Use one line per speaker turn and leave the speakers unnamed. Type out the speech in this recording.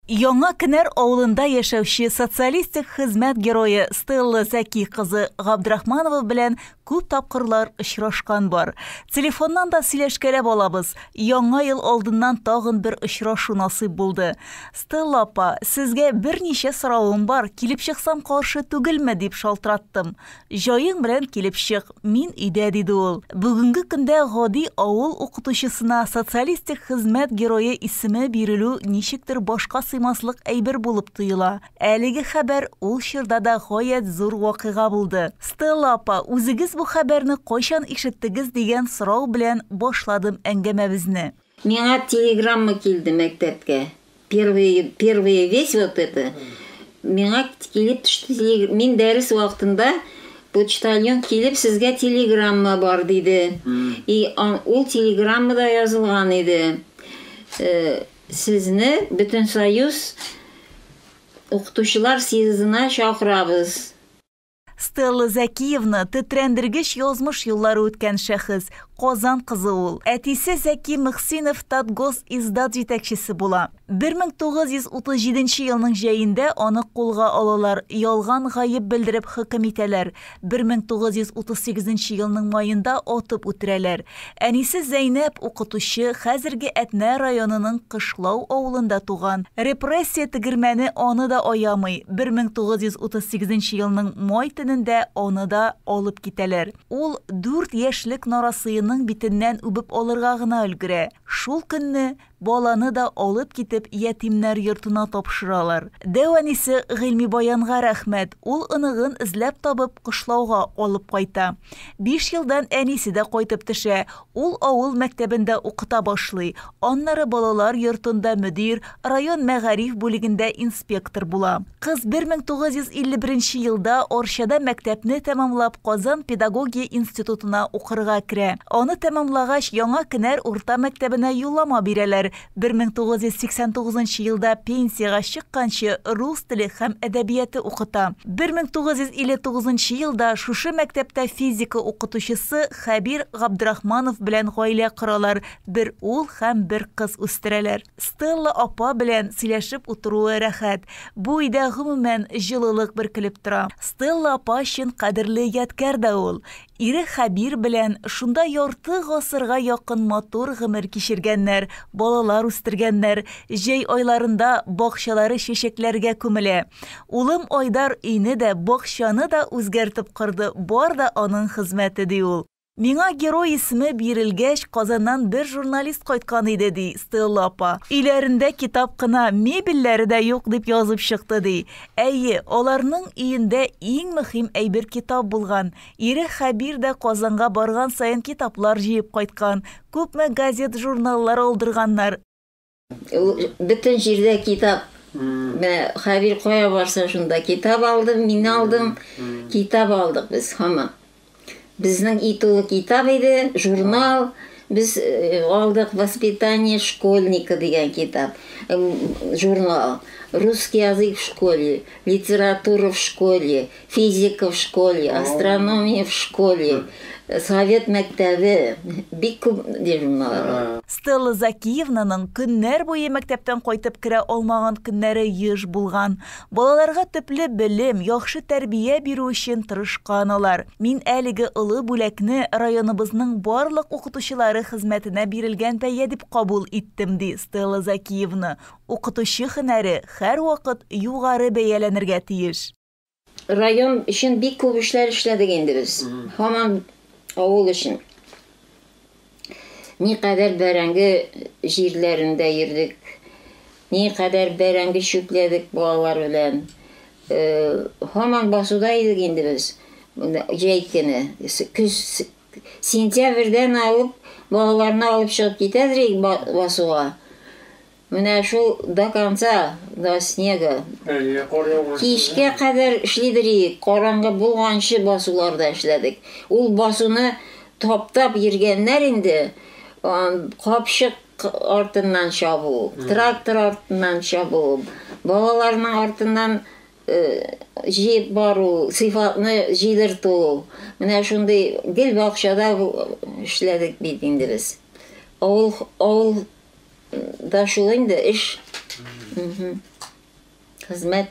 Яңа Кенәр авылында яшәүче социалистик хезмәт герое Стелла Зәки кызы Габдрахманова белән күп тапкырлар очрашкан бар. Телефоннан да сөйләшкәләп алабыз. Яңа ел алдыннан тагын бер очрашу насыйп булды. Стелла апа, сезгә берничә соравым бар, килеп чыксам каршы түгелме, дип шалтыраттым. Җаең белән килеп чык, мин өйдә, диде ул. Бүгенге көндә гади авыл укытучысына социалистик хезмәт герое исеме бирелү ничектер башка сыймаслык әйбер булып тоела. Әлеге хәбәр ул чорда да гаять зур вакыйга булды. Стелла апа, үзегез бу хәбәрне кайчан ишеттегез, дигән сорау белән башладым әңгәмәбезне. Миңа телеграмма килде мәктәпкә. Первый, первые весь вот это. Миңа килеп төште, мин дәрес вакытында почтальон килеп сезгә телеграмма бар диде. И ул телеграммада язылган иде. Э, сезне Бөтенсоюз укытучылар съездына чакырабыз. Стелла Зәкиевна, тетрәндергеч язмыш юллары үткән шәхес, Казан кызы ул. Әтисе Зәки Мөхсинов Татгос издат җитәкчесе була. 1937 елның җәендә аны кулга алалар, ялган гаеп белдереп хөкем итәләр. 1938 елның маенда атып үтерәләр. Әнисе Зәйнәп, укытучы, хәзерге Әтнә районының Кышлау авылында туган. Репрессия тегермәне аны да аямый, 1938 нче елның май төнендә аны да алып китәләр. Ул дүрт яшьлек нарасыеның битеннән үбеп алырга гына өлгерә. Шул көнне Баланы да алып китеп ятимнәр йортына тапшыралар. Дәү әнисе Гыйльмибаянга рәхмәт, ул оныгын эзләп табып кышлауга алып кайта. Биш елдан әнисе дә кайтып төшә, ул авыл мәктәбендә укыта башлый, аннары балалар йортында мөдир, район мәгариф бүлегендә инспектор була. Кыз 1951 нче елда Арчада мәктәпне тәмамлап Казан педагогия институтына укырга керә. Аны тәмамлагач, Яңа Кенәр урта мәктәбенә юллама бирәләр. 1989 нчы елда пенсиягә чыкканчы рус теле һәм әдәбияты укыта. 1959 нчы елда шушы мәктәптә физика укытучысы Хәбир Габдрахманов белән гаилә коралар, бер ул һәм бер кыз үстерәләр. Стелла апа белән сөйләшеп утыруы рәхәт. Бу өйдә гомумән җылылык бөркелеп тора. Стелла апа чын кадерле ядкәр дә ул. Ире Хәбир белән шунда ярты гасырга якын матур гомер кичергәннәр, балалар үстергәннәр, җәй айларында бакчалары чәчәкләргә күмелә. Улым Айдар өйне дә, бакчаны да үзгәртеп корды, бар да аның хезмәте, ди ул. Миңа герой исеме бирелгәч, Казаннан бер журналист кайткан иде, ди Стелла апа. Өйләрендә китап кына, мебельләре дә юк, дип язып чыкты, ди. Әйе, аларның өендә иң мөһим әйбер китап булган. Ире Хәбир дә Казанга барган саен китаплар җыеп кайткан. Күпме газет-журналлар алдырганнар. Бөтен җирдә китап. Менә Хәбир кая барса шунда китап алдым, мин алдым. Китап алдык без һаман. Безнең и тулы китап иде, журнал. Без э, алдык «Воспитание школьника» дигән китап, журнал. «Русский язык в школе», «Литература в школе», Физика в школе, астрономия в школе, совет мәктәбе, бик күп журналлар. Стелла Закиевнаның көннәр буе мәктәптән кайтып керә алмаган көннәре еш булган. Балаларга төпле белем, яхшы тәрбия бирү өчен тырышкан алар. Мин әлеге олы бүләкне районыбызның барлык укытучылары хезмәтенә бирелгән бәя дип кабул иттем, ди Стелла Закиевна. Укытучы һөнәре һәрвакыт югары бәяләнергә тиеш. Район өчен бик күп эшләр эшләдек инде без. Һаман авыл өчен. Никадәр бәрәңге җирләрендә йөрдек. Никадәр бәрәңге чүпләдек балалар белән. Һаман басуда идек инде без. Җәй көне, көз сентябрьдән алып балаларны алып чыгып китәдер идек басуга. Менә шул до конца, до снега. Әйе, кар яуган. Кичкә кадәр эшлидер иек, караңгы булганчы басуларда эшләдек. Ул басуны таптап йөргәннәр инде, капчык артыннан чабу, трактор артыннан чабу, балаларның артыннан җыеп бару, сыйфатны җыйдырту. Менә шундый гел бакчада эшләдек бит инде без. Авыл, авыл да шул инде эш. Хезмәт.